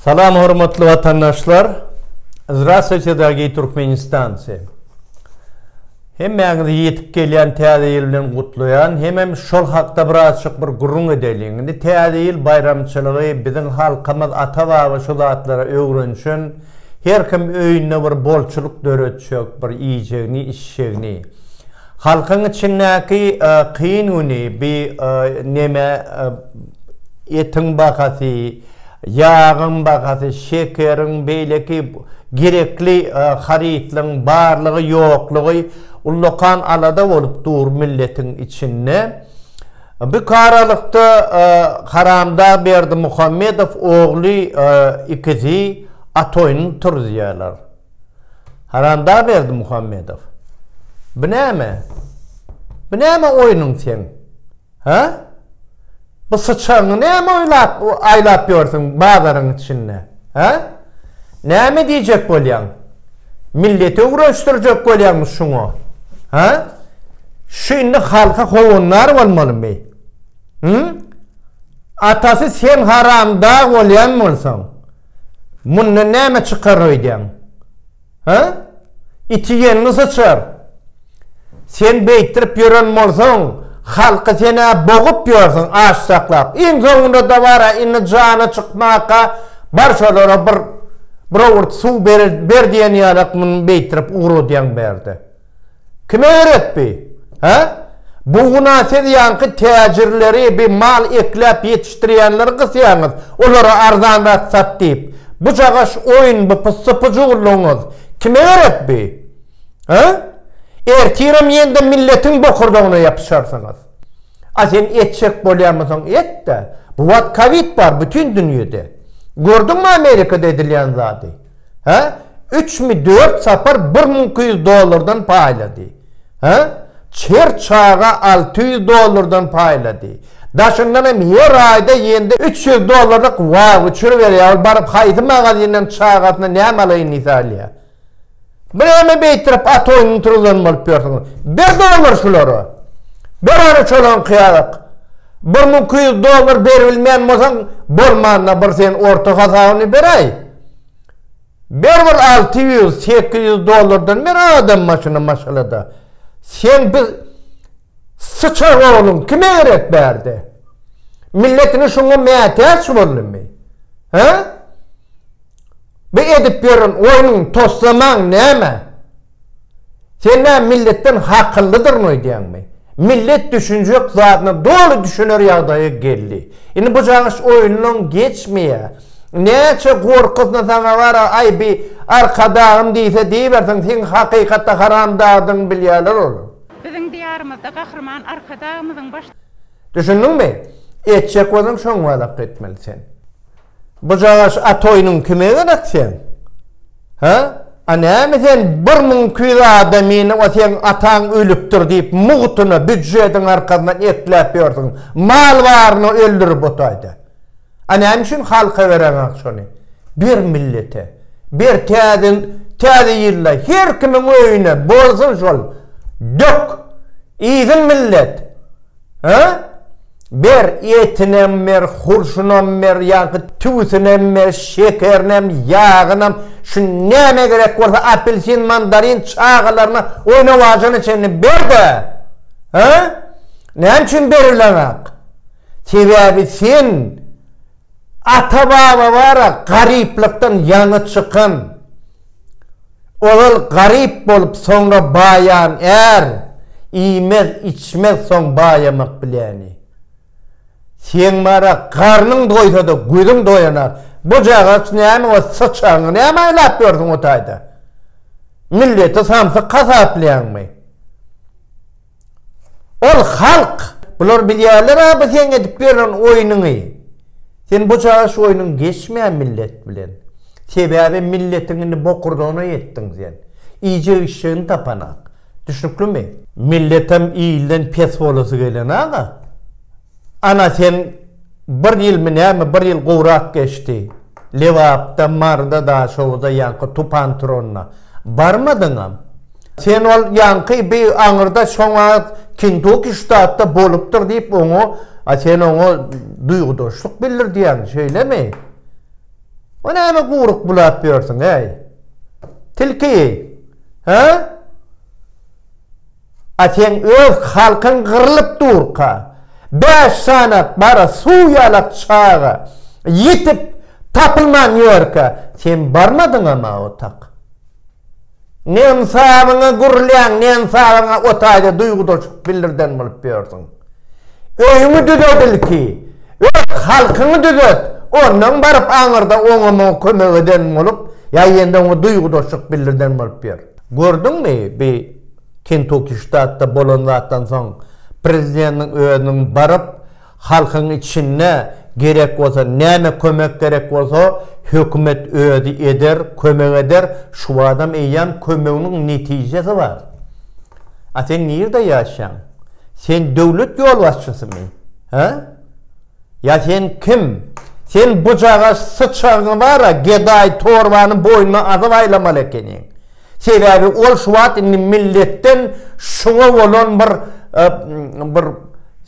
Salam hormatly watandaşlar Zdrastwuyteda giý Türkmenistan se Hemmäňizi ýetip gelýän täze ýyl bilen gutlaýan hemem şol hakda bir azjyk bir gürrüň edeliň indi täze ýyl baýramçylygy biziň halkymyz ata baba şu zatlara öwrenşen her kim öýünde bir bolçulyk döretjek bir iýjegini içjegini halkyň içindäki e, kyn güni bi e, neme e, etiň bahasy Ýagyň bahasy, şekeriň, beýleki gerekli harytlaryň barlygy, ýoklugy ullakan alada bolup dur milletiň içinde. Bük aralykda Haramdag Berdimuhamedow ogly ikisi at oýnuny turuzýarlar. Haramdag Berdimuhamedow, bu näme? Bu näme oýnuň seň? Hä? Bu syçaňy näme oýlap, aýlap ýörsüň bazaryň içinde? Hä? Näme diýjek bolýaň? Milleti öwrenişdirjek bolýaňmy şuňa? Hä? Şu indi halka howandar bolmalymy? Hä? Atasy sen haramdag bolýan bolsaň, mundan näme çykar öýdýäň? Hä? Iti ýenli syçar. Sen beýtdirip ýören bolsaň, halky sen-ä bogup ýörsüň, aç saklap. Iň soňunda-da bar-a, indi jana çykmaka bar şolara bir bir owurt suw ber diýen ýalak muny beýtdirip ugradýaň bärde. Kim öwretdi? Hä? Bu guna siz ýaňky täjirleri, bi mal ekläp ýetişdirýänleri gysýaňyz, olara arzanrak sat diýip. Bu cagaş oýun, bu pyssy-pyjuwlygyňyz kim öwretdi? Hä? Ertirem ýene-de milletiň bokurdagyna ýapyşarsyňyz. A sen etjek bolýamysyň, et-de. Bu wagt kowid bar bütin dünýede. Gördüňmi Amerikada edilýän zady? Hä? Üçmi, dört sapar bir müň iki ýüz dollardan paýlady. Hä? Her çaga alty ýüz dollardan paýlady. Daşyndan hem her aýda ýende üç ýüz dollarlyk wauçer berýär. Ol baryp haýsy magazindan çagasyna näme alaýyn diýse alýar. Bireme beýtirip at oýnuny turuzan bolup ýörsiňiz. Ber dollar şulara. Ber ony şolaň kyýalyk. Bir müň iki ýüz dollar beribilmeýän bolsaň, bolmanda bir sen orta hasabyny beraý. Berbir alty ýüz, sekiz ýüz dollardan bir adam başyna maşgalada. Sen biz syçar ogluň kime gerek bärde? Milletini şuňa mätäç boldumy? He? Bu edip ýören oýnuň toslamaň näme? Sen nä milletden hakyllydyryn öýdýäňmi? Millet düşünjek zadyna doly düşüner ýagdaýa geldi. Indi bu cagyş oýundan geçmeýä. Näçe gorkasna saňa bar-a, aý bi arkadagym diýse diýibersin, seň hakykatda haramzadadygyňy bilýäler olar. Biziň diýarymyzda gahryman arkadagymyzyň baş. Düşündiňmi? Etjek bolsaň şoňňalak etmeli sen. Bujagaş a toýnuň kime gerek seň? Hä? A näme sen bir müň iki ýüz adamyny o seň ataň ölüpdir diýip mugtyna, býudjetiň arkasyndan ekläp ýörsüň. Mal baryny öldürip otaýda. A näme üçin halka bereňok şony? Ber millete. Ber täze täze ýylda her kimiň öýüne bolsun şol. Dök. Iýsin millet. Hä? Ber, etinem ber, hurşunam ber, ýaňky tüwüsinem ber, şekerinem, ýagynam, şu nämä gerek bolsa apelsin, mandarin, çagalaryna oýnawajyna çenli ber-de! Hä? Näme üçin berileňok? Sebäbi sen ata-baba bar-a, garyplykdan ýaňy çykan. Ozal garyp bolup soňra baýan är, iýmez, içmez soň baýamak biläni. Seň bara garnyň doýsada gözüň doýanak, bu jagaç näme we syçanyňy näme aýlap ýörsiň o taýda? Milleti samsyk hasaplaýaňmy? Ol halk. Bular bilýärler-ä bu seň edip ýören oýnuňy. Sen bu çaga şu oýnuň geçmä millet bilen. Sebäbi milletiň indi bokurdagyna ýetdiň sen. Iýjek-içjegiň tapanok. Düşnüklimi? Milletem ilden pes bolasy gelen aga. Ana sen bir ýylmy näme bir ýyl gowrak geçdi. Lebapda, Maryda, Daşoguza ýaňky tupan turanda barmadyňam. Sen ol ýaňky bi aňyrda şoňa Kintuki ştatda bolupdyr diýip oňa a sen oňa duýgudaşlyk bildirdýäň şeýlemi? O näme guryk bulap ýörsüň äý. Tilki. Hä? A seň öz halkyň gyrlyp durka, bäş sany gara suw ýalak çaga ýitip, tapylman ýörkä, sen barmadyňam-a otak. Nensabyňa gürlän, nensabyňa o taýda duýgudaşlyk bildirden bolup ýörsüň. Öýüňi düzet ilki, öz halkyňy düzet, ondan baryp aňyrda oňa-muňa kömek eden bolup, ýa ýene-de oňa duýgudaşlyk bildirden bolup ýör. Gördüňmi, bi Kentuki ştatda bolan zatdan soň prezidentiň özüniň baryp, halkyň içinde gerek bolsa, näme kömek gerek bolsa, hökümet özi eder, kömek eder, şu badam eýýäm kömeginiň netijesi bar. A sen nirde ýaşaýaň? Sen döwlet ýolbaşçysymy? Hä? Ýa sen kim? Sen bujaga syçagyňy bar-a, gedaý torbany boýnuna asyp aýlamaly ekeniň. Sebäbi ol şu wagt indi milletden şuňa bolan bir bir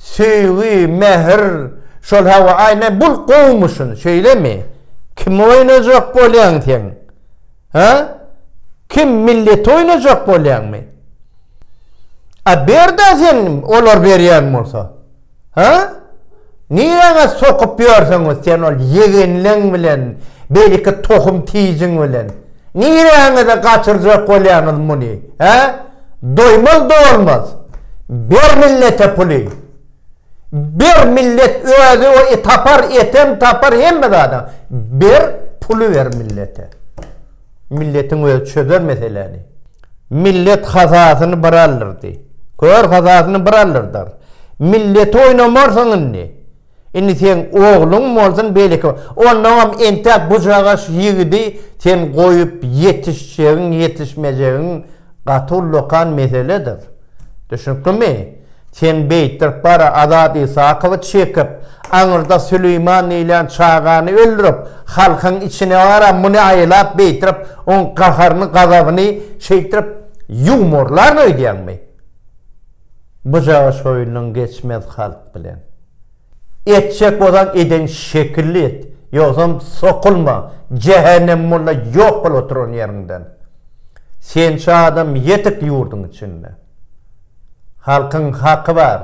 söýgi, mähir, şol hawa, aý, näme, bul gowumyşyn, şeýlemi? Kimi oýnajak bolýaň sen? Hä? Kim, milleti oýnajak bolýaňmy? A ber-dä sen, olar berýän bolsa. Ha? Niräňe sokup ýörsüňiz sen ol ýegenleň bilen, beliki tohum tijiň bilen? Niräňe-de gaçyrjak bolýaňyz muny? Hä? Doýmaz dolmaz. Ber millete puly. Ber millet özi o e tapar, etem tapar hemme zada. Ber puly ber millete. Milletiň özi çözer meseläni. Millet hazasyny bir aldyrdy. Kör hazasyny bir aldyrdar. Milleti oýnamarsyň indi. Indi seň ogluň bolsun beýleki. Onnoňam entäk bujagaş ýigidi sen goýup ýetişjegiň ýetişmejegiň gaty ullakan meseledir. Düşünikdimi? Sen beýtdirip bara Azat Isakowy çekip, aňyrda Süleýman diýilýän çagany öldürip, halkyň içine bara muny aýlap beýtdirip, oň gaharyny, gazabyny şeýtdirip ýumorlaryn öýdýäňmi? Bujaga şoýunyň geçmez halk bilen. Etjek bolsaň eden şekilli et, ýogsam sokulma jähenem molla ýok bol oturan ýeriňden. Sençe adam ýetik ýurdyň içinde. Halkyň haky bar.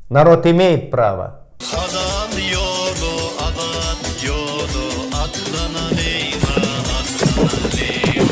Narod imeýit prawa. Hazal ýoly azat ýoly atlanaleyna atlanaleyna.